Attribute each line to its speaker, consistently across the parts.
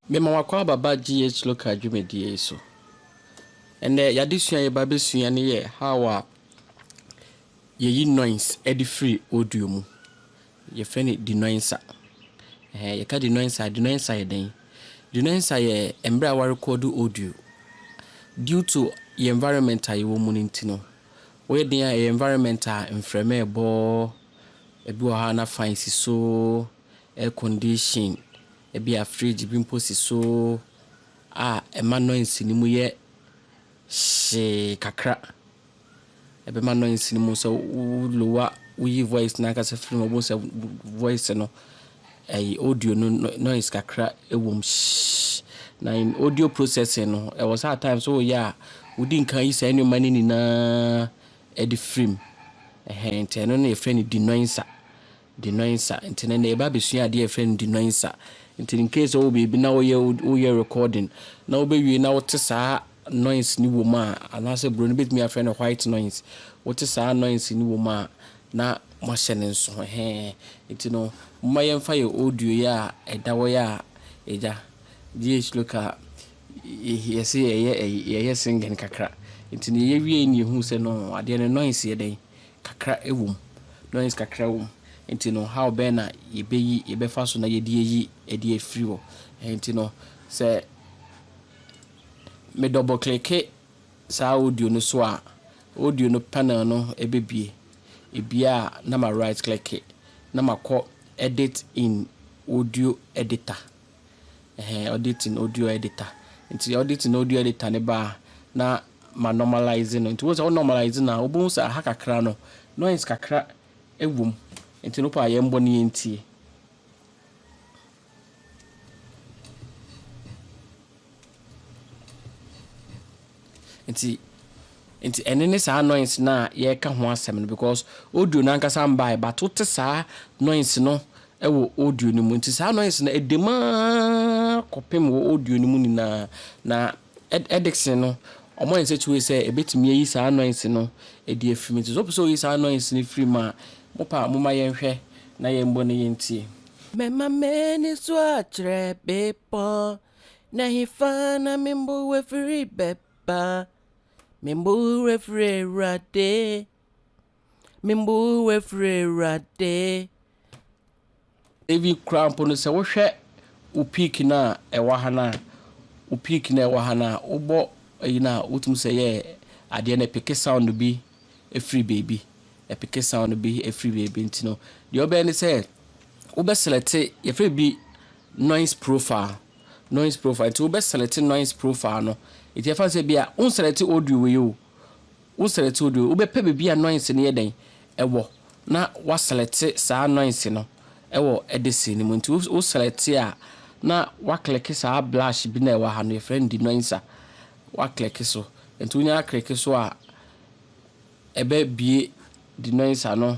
Speaker 1: Mema w'akwaaba ba GH local dwumadie yi so. Ɛnnɛ y'adesua a yɛba abɛsua no yɛ how a yɛyi noise ɛde firi audio mu. Yɛfrɛ no denoiser. Ɛhɛn, yɛka denoiser a, denoiser yɛ dɛn? Denoiser yɛ mmerɛ a woarekɔɔdo audio. Due to yɛn environment a yɛwɔ mu no nti no, Woyɛ den a ɛyɛ environment a mframa ɛbɔ, ebi wɔ hɔ a na fan si so, air condition, ebi a fridge bi mpo si so a ɛma noise no mu yɛ hyee kakra. Ɛbɛma noise no mu sɛ wo lower, woyi voice no ankasa firi mu a wobɛhu sɛ voice no. Ɛyi audio no noise kakra wom shhh. Na in audio processing no ɛwɔ sɛ at times wo yɛ a wodi nkan yi saa nneɛma no nyinaa de firi mu. Ɛhɛn nti ɛno na yɛfrɛ no denoiser. Denoiser nti no ɛnɛ yɛba abɛsua adeɛ a yɛfrɛ no denoiser. Nti in case wowɔ baabi na woyɛ woyɛ recording na wobɛwie na wote saa noise no wɔ mu a anaasɛ broni bɛtumi afrɛ no white noise. Wote saa noise no wɔ mu a na moahyɛ no nso he, nti no momma yɛmfa yɛ audio yi a ɛda hɔ yi a agya GH Local yɛse yɛyɛ ɛyi yɛyɛ singing kakra nti no yɛwiei no yɛhuu sɛ no adeɛ no noise yɛ dɛn kakra wom noise kakra wom nti no how bɛn na yɛbɛyi yɛbɛfa so na yɛde ayi ɛde afiri hɔ nti no sɛ me double click Saa audio no so a, audio no panel no bɛbue. Ebue a na ma right clike na makɔ edit in audio editor. Ɛhɛn, edit in audio editor. Nti edit in audio editor no ba a, na ma normalise no. Nti wohu sɛ wo normalise no a, wobɛhu sɛ aha kakra no, noise kakra wɔ mu. Nti no wopɛ a yɛmbɔ na yɛntie. Nti, nti ɛne ne saa noise no a yɛreka ho asɛm no because audio no ankasa mbaeɛ but wote saa noise no wɔ audio no mu. Nti saa noise no ɛdam ara kɔpem wɔ audio no mu nyinaa na Edikson no, wɔayɛ nsakyibere sɛ ebetumi ayi saa annoyance no adi afi mu. Enti sɛ wopɛ sɛ wuyi saa annoyance no firi mu a, mo paa momma yɛnhwɛ na yɛmmɔ na yentie. Mɛma m'ani so akyerɛ bepɔn, na hefa na me mmoa firi bɛba? Me mmoa firi Awurade. Me mmu wo afiri Awurade. Ebi koraa mpo no sɛ wohwɛ wo piiki no a ɛwɔ ha no a, wo piiki no a ɛwɔ ha no a, wobɔ ayi no a, wotumi sɛ yɛ adeɛ no ɛpeke sound bi firi baabi, ɛpeke sound bi firi baabi nti no, deɛ wobɛyɛ ne sɛ wobɛselɛte, yɛfrɛ biribi noise profile, noise profile, nti wobɛselɛte noise profile no, nti ɛfa no sɛ bia wonselɛte audio wei o, Wo selɛte wo deɛ, wobɛpɛ baabi a noise no yɛ dɛn wɔ na wa selɛte saa noise no wɔ de scene no mu. Nti wo selɛte a na wa kleke saa blush bi no a ɛwɔ ha no, yɛfrɛ no denoiser, wa kleke so. Nti wo nya kleke so a, ɛbɛ bue denoiser no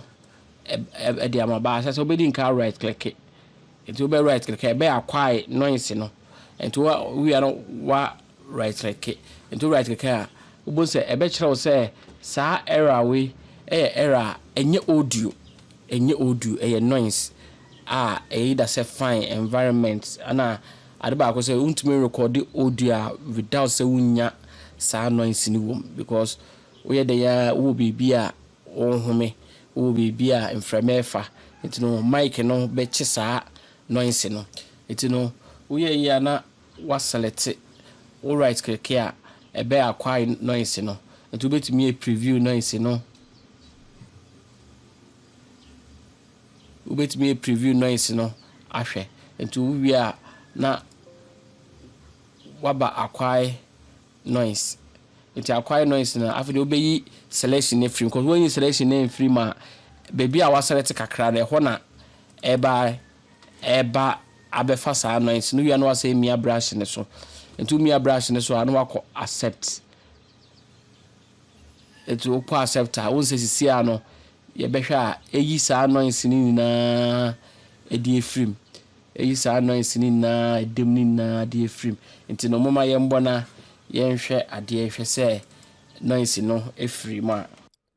Speaker 1: de ama ba asɛ sɛ wobɛdi nkan a right kleke. Nti wobɛ right kleke a ɛbɛ acquire noise no. Nti wo wia no wa Rytreke. Nto Rytreke a, wobɛhu sɛ ɛbɛkyerɛ wo sɛ saa error wei yɛ error a ɛnyɛ audio, ɛnyɛ audio, ɛyɛ noise a ɛyɛ either sɛ fine, environment, ɛna ade baako sɛ wontumi nrekɔde audio a without sɛ wonnya saa noise no wom because woyɛ dɛn ara wowɔ baabi a wonhome, wowɔ baabi a mframa refa, nti no mic no bɛkye saa noise no. Nti no woyɛ yie a na woaselɛte wo right click a ɛbɛ acquire noise no nti wobɛtumi a preview noise no wobɛtumi a preview noise no ahwɛ nti wowie a na woaba acquire noise nti acquire noise no afei deɛ wobɛyi selection no afiri mu cause woanyi selection no amfiri mu a baabi a woaselɛte kakra no ɛhɔ na ɛba ɛreba abɛfa saa anointing no wie a na wasɛ mia brush no so nti womia brush no so a na wakɔ accept nti wokɔ accept a wonsɛ sisi a no yɛbɛhwɛ a ɛyi saa anointing no nyinaa ɛde afirim ɛyi saa anointing no nyinaa ɛdam no nyinaa de afirim nti no moma yɛmbɔ na yɛnhwɛ adeɛ hwɛ sɛ anointing no ɛfiri mu a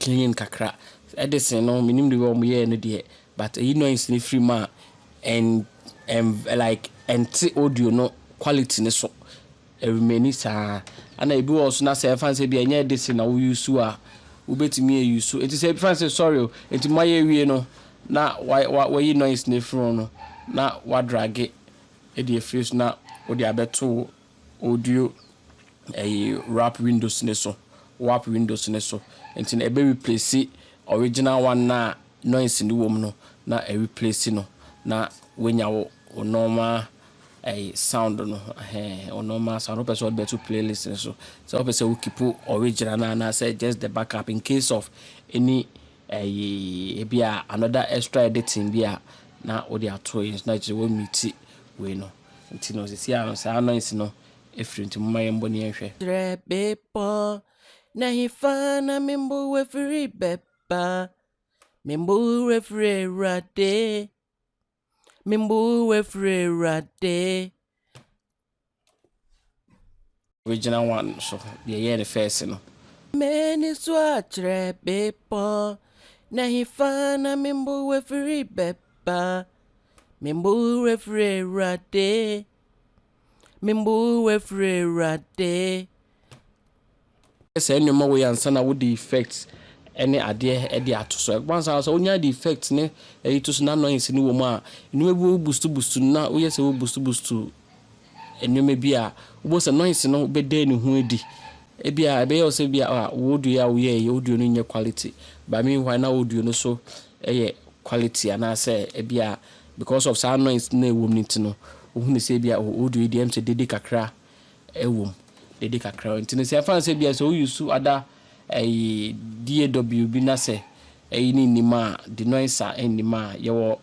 Speaker 1: clean kakra Edison no me nim de wɔ ɔmo yɛɛ no deɛ but eyi noise no firi mu a ɛn ɛn like ɛnte audio no quality no so ɛremaini saa ɛna ebi wɔ so na sɛ ɛfa no sɛ ebi ɛnyɛ Edison na wo use a wo bɛtumi a use nti sɛ ebi fa no sɛ sorry o nti mo ayɛ awie no na wa wa wayi noise no afiri ho no na wa drage ɛde afiri so na wode abɛto wo Audio ɛyi wrap windows no so wap windows no so nti no ɛbɛ replace original one no a noise no wɔ mu no na ɛ replace no na wanya wo wo normal ɛyi sound no ɛhɛn wo normal sound wopɛ sɛ wode bɛto playlist no so sɛ wopɛ sɛ wo keep original no anaa sɛ just the backup in case of any ɛyi ebi a another extra editing bi a na wode ato yi na kyerɛ wɔ meet wei no. Nti no, sisi ara no, saa noise no afiri, nti momma yɛmbɔ ne yɛnhwɛ. Kyerɛ bepɔ, na hefa na me mboa firi bɛba? Me mboa firi Awurade, me mboa firi Awurade. Original one so deɛ yɛyɛ no first no. M'ani so akyerɛ bepɔ. Na hefa na me mbowerɛfiri bɛba? Me mbowerɛfiri Awurade. Me mbowerɛfiri Awurade. Sɛ saa nneɛma wei ansa na wode effect ne adeɛ de ato so. Ɛba saa sɛ wonya de effect ne ɛyi to so na annoyance no wɔ mu a, nneɛma bi wɔ wo boost boost no na woyɛ sɛ wo boost boost nneɛma bi a wobɛhu sɛ noise no bɛda ne ho adi. Ebia ɛbɛyɛ wo sɛ bi a ah wo audio a woyɛeɛ yi, audio no nyɛ quality. But meanwhile na audio no so yɛ quality anaasɛ ebi a because of saa noise no a ɛwom no nti no, wohunu sɛ bi a oh audio yi deɛ ɛm sɛ dede kakra wom, dede kakra wom. Nti no sɛ ɛmfa no sɛ bi a sɛ wo use ada ɛyi DAW bi na sɛ ɛyi no nnim a, denoiser nnim a, yɛwɔ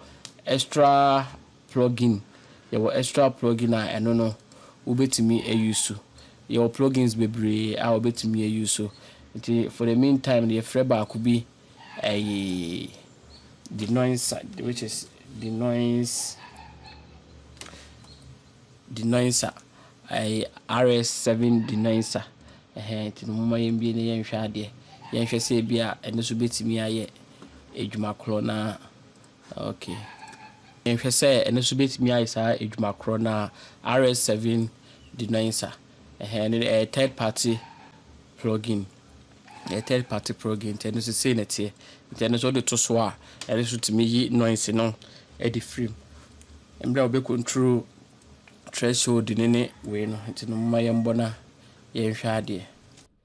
Speaker 1: extra Plugin, Yɛwɔ extra plugin a ɛno no wobɛtumi ayusu. Yɛwɔ plugins bebree a wobɛtumi ayusu. Nti for the mean time no yɛfrɛ baako bi ɛyi denoiser which is denoise denoiser ɛyi RS seven denoiser ɛhɛn nti no momma yɛmbie na yɛnhwɛ adeɛ. Yɛnhwɛ sɛ ebia ɛno nso bɛtumi ayɛ adwuma korɔ no ara. Ok. Nhwɛ sɛ ɛno nso bɛtumi ayɛ saa adwuma korɔ no a RS7 denoiser. Ɛhɛn ɛno ɛyɛ third party plug-in. Ɛyɛ third party plug-in nti ɛno nso sei na ɛteɛ. Nti ɛno nso wode to so a, ɛno nso tumi yi noise no de firi mu. Mmerɛ a wobɛ control threshold no ne wei no, nti no momma yɛmmɔ na yɛnhwɛ adeɛ.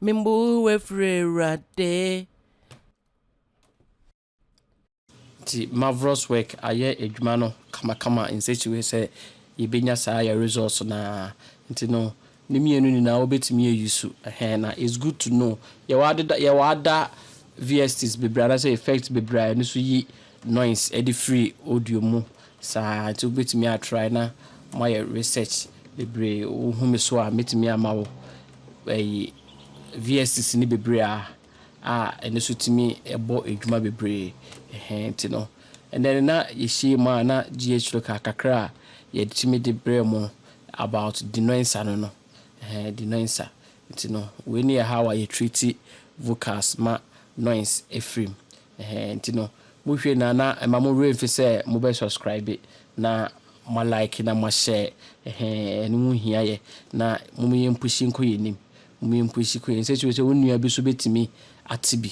Speaker 1: Me mmu wo afiri Awurade. Nti marvelous work ayɛ adwuma no kamakama in such a way sɛ yɛbɛnya saa yɛ results no ara nti no ne mmienu nyinaa wobɛtumi a use ɛhɛn na it's good to know yɛwɔ adeda yɛwɔ ada VSTs bebree anaasɛ effects bebree a ɛno nso yi noise ɛde firi audio mu Saa nti wobɛtumi a try na moayɛ research bebree. Wo hu me so a mɛtumi ama wo ɛyi VSs no bebree a a ɛno nso tumi bɔ adwuma bebree ɛhɛn nti no ɛnɛ no na yɛhyiam a na GH local kakra a yɛtumi de brɛ mo about denoensa no no ɛhɛn denoensa nti no wei ne yɛ how a yɛ treat vocals ma noise ɛfirim Ɛhɛɛ nti no mo hwɛ na na ɛma mo werɛ mfi sɛ mo bɛ subscribe na mo a like na mo a share ɛhɛɛ ɛno ho hia yɛ na mom yɛn pushi nkɔ yɛn anim mom yɛn pushi kɔ yɛn sɛ kyerɛ sɛ wo nua bi so bɛtumi ate bi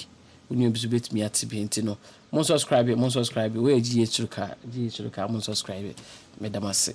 Speaker 1: wo nua bi so bɛtumi ate bi nti no mo subscribe mo subscribe wo yɛ GH Suruka GH Suruka mo subscribe meda mo ase.